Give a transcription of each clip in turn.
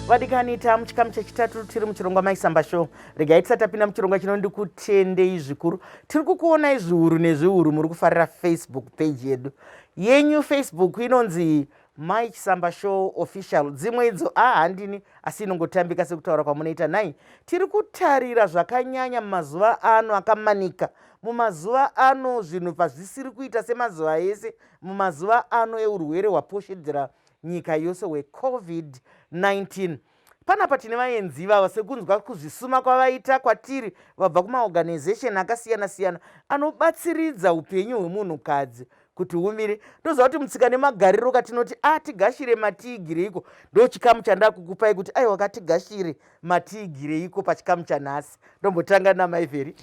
vadikani ta muchikamu chechitatu tiri muchirongwa maisamba show regai tisati tapinda muchirongwa chino ndikutendei zvikuru tiri kukuonai zviuru nezviuru muri kufarira facebook page yedu yenyu facebook inonzi Mai Chisamba Show Official dzimwe idzo a ah, handini asi inongotambika sekutaura kwamunoita nhai tiri kutarira zvakanyanya mumazuva ano akamanika mumazuva ano zvinhu pazvisiri kuita semazuva ese mumazuva ano eurwere hwaposhedzera nyika yose hwecovid-19 Panapa tine vaenzi ivava sekunzwa kuzvisuma kwavaita kwatiri vabva kumaorganization akasiyana-siyana anobatsiridza upenyu hwemunhukadzi kuti humire ndoziva kuti mutsika nemagariro katinoti atigashire ah, matiigireiko ndo chikamu chandakukupai kuti aiwa katigashire matiigireiko pachikamu chanhasi ndombotanga namaivheri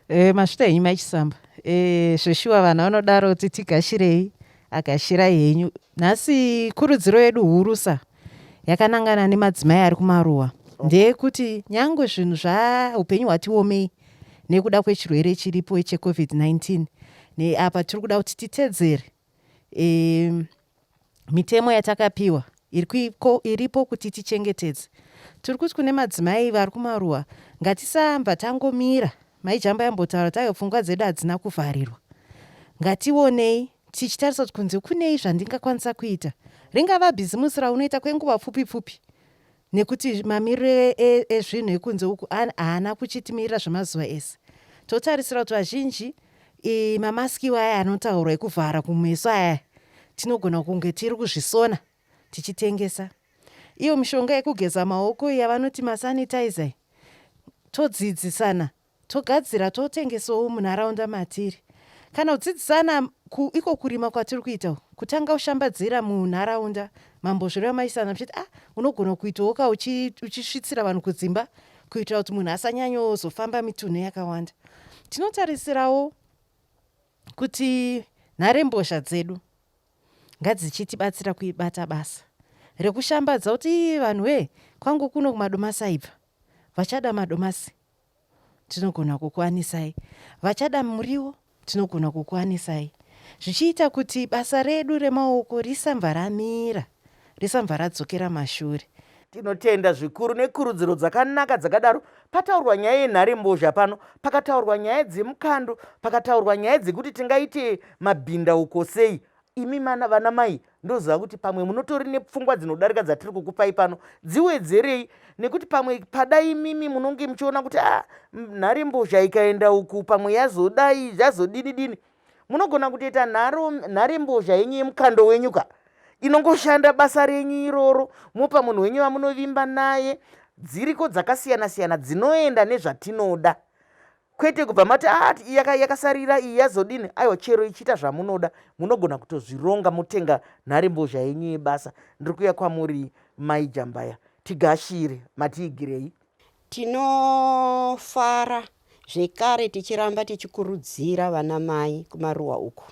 e, eh, masvita henyu maichisamba e, eh, zveshuwa vanhu vanodaro kuti tigashirei agashira henyu Nhasi kurudziro yedu hurusa yakanangana nemadzimai ari kumaruwa ndeyekuti nyangwe zvinhu zvaupenyu hwatiomei nekuda kwechirwere chiripo checovid-19 neapa tiri kuda kuti titedzere e, mitemo yatakapiwa iripo kuti tichengetedze tiri kuti kune madzimai vari kumaruwa ngatisamba tangomira maijamba yambotaura tayo pfungwa dzedu hadzina kuvharirwa ngationei tichitarisa kuti kunze kunei zvandingakwanisa kuita ringava bhizimusi raunoita kwenguva pfupi pfupi nekuti mamiriro ezvinhu e, e, ekunze uku haana kuchitimirira zvemazuva ese totarisira kuti vazhinji mamaskiwo aya anotaurwa ekuvhara kumeso aya tinogona kunge tiri kuzvisona tichitengesa iyo mishonga yekugeza maoko yavanoti masanitizer todzidzisana togadzira totengesawo munharaunda matiri kana kudzidzisana ku iko kurima kwatiri kuita uku kutanga kushambadzira munharaunda mambozvireva maisana muchiti ah unogona kuitawo ka uchisvitsira vanhu kudzimba kuitira kuti munhu asanyanyozofamba mitunhu yakawanda tinotarisirawo kuti nharembozha dzedu ngadzichitibatsira kuibata basa rekushambadza kuti vanhu wee kwangu kuno kumadomasi aibva vachada madomasi tinogona kukuwanisai. Vachada muriwo, tinogona kukuwanisai. Zvichiita kuti basa redu remaoko risambva ramira, risambva radzokera mashure. Tinotenda zvikuru nekurudziro dzakanaka dzakadaro. Pataurwa nyaya yenharembozha pano, pakataurwa nyaya dzemukando, pakataurwa nyaya dzekuti tingaite mabhindauko sei, imi mana vana mai ndoziva kuti pamwe munotori nepfungwa dzinodarika dzatiri kukupai pano dziwedzerei nekuti pamwe pada imimi munonge muchiona kuti a ah, nhari mbozha ikaenda uku pamwe yazodai zvazodini dini munogona kutoita nhare mbozha yenyu yemukando wenyu ka inongoshanda basa renyu iroro mopa munhu wenyu vamunovimba naye dziriko dzakasiyana siyana dzinoenda nezvatinoda kwete kubva mati ati ah, iyaka yakasarira iyi yazodini aiwa chero ichiita zvamunoda munogona kutozvironga motenga nhari mbozha yenyu yebasa ndiri kuya kwamuri mai jambaya tigashire matiigirei tinofara zvekare tichiramba tichikurudzira vana mai kumaruwa uku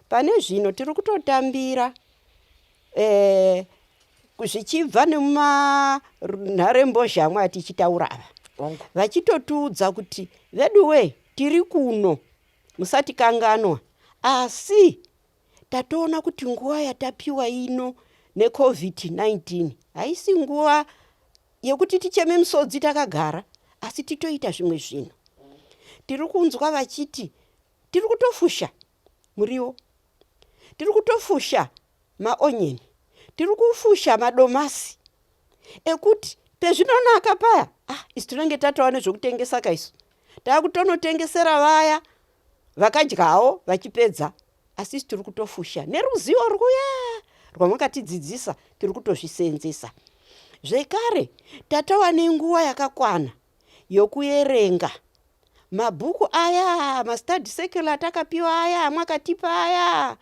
Pane zvino tiri kutotambira eh, zvichibva nemumanharembozhamwe atichitaura ava vachitotiudza kuti veduwee tiri kuno musatikanganwa asi tatoona kuti nguva yatapiwa ino necovid-19 haisi nguva yekuti ticheme misodzi takagara asi titoita zvimwe zvinhu tiri kunzwa vachiti Tiri kutofusha muriwo, tiri kutofusha maonyeni, tiri kufusha madomasi ekuti pezvinonaka paya ah, isu tinenge tatova nezvekutengesa ka isu taakutonotengesera vaya vakadyawo vachipedza asi isu tiri kutofusha neruzivo rwuya rwamakatidzidzisa tiri kutozviseenzesa zvekare tatova nenguva yakakwana yokuerenga mabhuku aya mastudy circle atakapiwa aya amwakatipa aya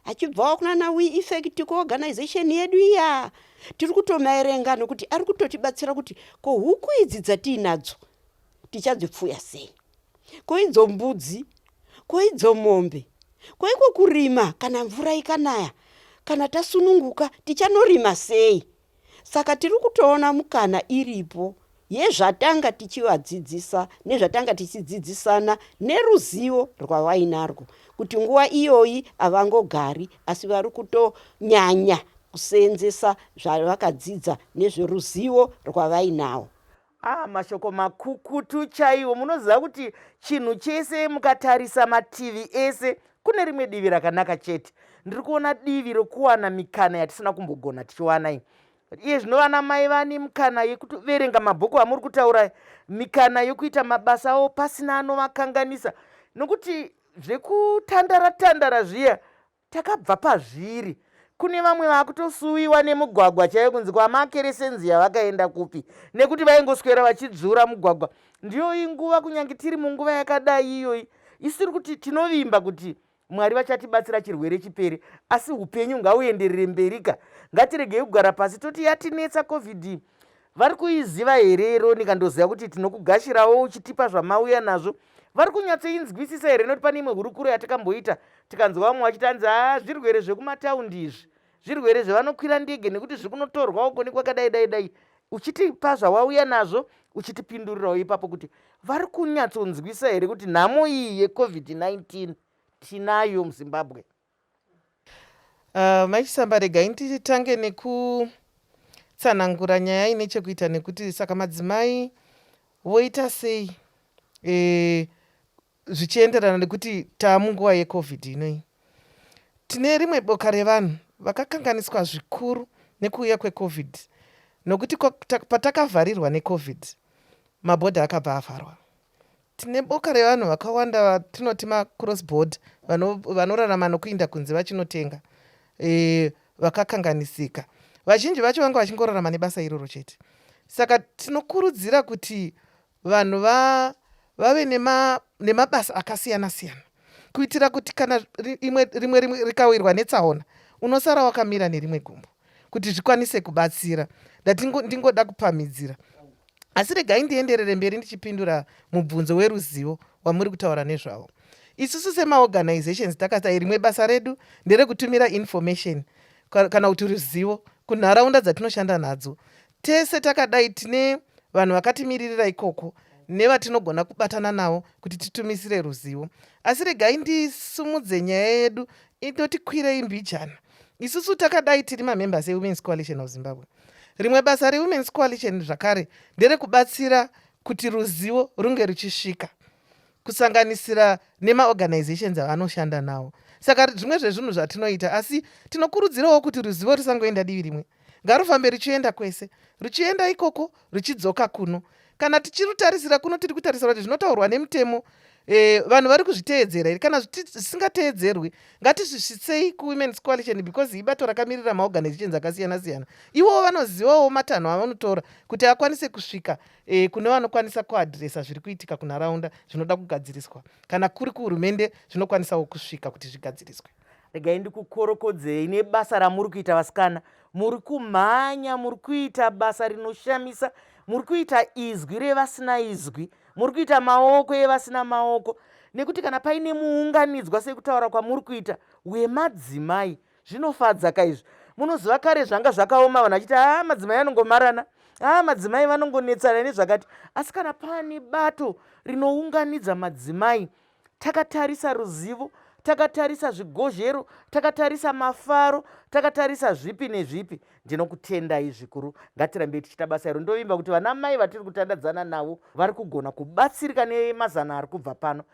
achibvawo kunana we effect kuorganization yedu iya tiri kutomaerenga nokuti ari kutotibatsira kuti ko huku idzi dzatiinadzo tichadzipfuya sei ko idzo mbudzi ko idzo mombe ko iko kurima kana mvura ikanaya kana tasununguka tichanorima sei Saka tiri kutoona mukana iripo yezvatanga tichivadzidzisa nezvatanga tichidzidzisana neruzivo rwavainarwo kuti nguva iyoyi havangogari asi vari kutonyanya kuseenzesa zvavakadzidza nezveruzivo rwavainawo. Ah, mashoko makukutu chaiwo munoziva kuti chinhu chese mukatarisa mativi ese kune rimwe divi rakanaka chete ndiri kuona divi rokuwana mikana yatisina kumbogona tichiwana iyi iye zvino vana mai vani mikana yekuverenga mabhuku amuri kutaura mikana yokuita mabasa avo pasina anovakanganisa nokuti zvekutandara tandara zviya Takabva pazviri. Kune vamwe vakutosuwiwa nemugwagwa chaiyo kunzi kwamakeresenzi yavakaenda kupi nekuti vaingoswera vachidzvura mugwagwa. Ndiyo iyi nguva kunyange tiri munguva yakadai iyoyi isu tiri kuti tinovimba kuti mwari vachatibatsira chirwere chipere asi upenyu ngauenderere mberika ngatiregei kugara pasi toti yatinetsa covid Vari kuiziva here Yeronika ndoziva kuti tinokugashirawo uchitipa zvamauya nazvo. Vari kunyatsoinzwisisa here noti pane imwe hurukuro yatakamboita tikanzwa vamwe vachiti hanzi haa zvirwere zvekumataundi izvi zvirwere zvevanokwira ndege nekuti zviri kunotorwawo koni kwakadai dai dai uchitipa zvawauya nazvo uchitipindurirawo ipapo kuti vari kunyatsonzwisa here kuti nhamo iyi yecovid-19 tinayo muzimbabwe Uh, mai chisamba regai nditange nekutsanangura nyaya ine chekuita nekuti saka madzimai voita sei e, zvichienderana nekuti taamunguva yecovid inoi tine rimwe boka revanhu vakakanganiswa zvikuru nekuuya kwecovid nokuti patakavharirwa necovid mabhodha akabva avharwa Tine boka revanhu vakawanda vatinoti macross board vanorarama vano nokuinda kunze vachinotenga e, vakakanganisika. Vazhinji vacho vanga vachingorarama nebasa iroro chete. Saka tinokurudzira kuti vanhu va, vave nema, nemabasa akasiyana siyana kuitira kuti kana rimwe rimwe rimwe rikawirwa netsaona unosara wakamira nerimwe gumbo. kuti zvikwanise kubatsira ndati ndingoda kupamhidzira asi regai ndienderere mberi ndichipindura mubvunzo weruzivo wamuri kutaura nezvavo isusu semaorganizations takasai rimwe basa redu nderekutumira information kana kuti ruzivo kunharaunda dzatinoshanda nadzo Tese takadai tine vanhu vakatimiririra ikoko nevatinogona kubatana navo kuti titumisire ruzivo. Asi regai ndisumudze nyaya yedu inotikwirei mbijana. Isusu takadai tiri mamembers eWomen's Coalition of Zimbabwe. Rimwe basa reWomen's Coalition zvakare nderekubatsira kuti ruzivo runge ruchisvika kusanganisira nemaorganizations avanoshanda nawo saka zvimwe zvezvinhu zvatinoita asi tinokurudzirawo kuti ruzivo rusangoenda divi rimwe ngarufambe ruchienda kwese ruchienda ikoko ruchidzoka kuno kana tichirutarisira kuno tiri kutarisira kuti zvinotaurwa nemutemo e, vanhu vari kuzviteedzera here kana zvisingateedzerwi ngatizvisvitsei kuwomens coalition because ibato rakamirira maorganizations akasiyana siyana iwowo vanozivawo matanho avanotora kuti akwanise kusvika e, kune vanokwanisa kuadresa zviri kuitika kunharaunda zvinoda kugadziriswa kana kuri kuhurumende zvinokwanisawo kusvika kuti zvigadziriswe regai ndikukorokodzei nebasa ramuri kuita vasikana muri kumhanya muri kuita basa rinoshamisa muri kuita izwi revasina izwi muri kuita maoko evasina maoko nekuti kana paine muunganidzwa sekutaura kwamuri kuita wemadzimai Zvinofadza ka izvi. Munoziva kare zvanga zvakaoma vanhu vachiti haa madzimai anongomarana haa madzimai vanongonetsana nezvakati asi kana pane bato rinounganidza madzimai takatarisa ruzivo takatarisa zvigozhero takatarisa mafaro takatarisa zvipi nezvipi ndinokutendai zvikuru ngatirambei tichita basa iro ndovimba kuti vana mai vatiri kutandadzana navo vari kugona kubatsirika nemazano ari kubva pano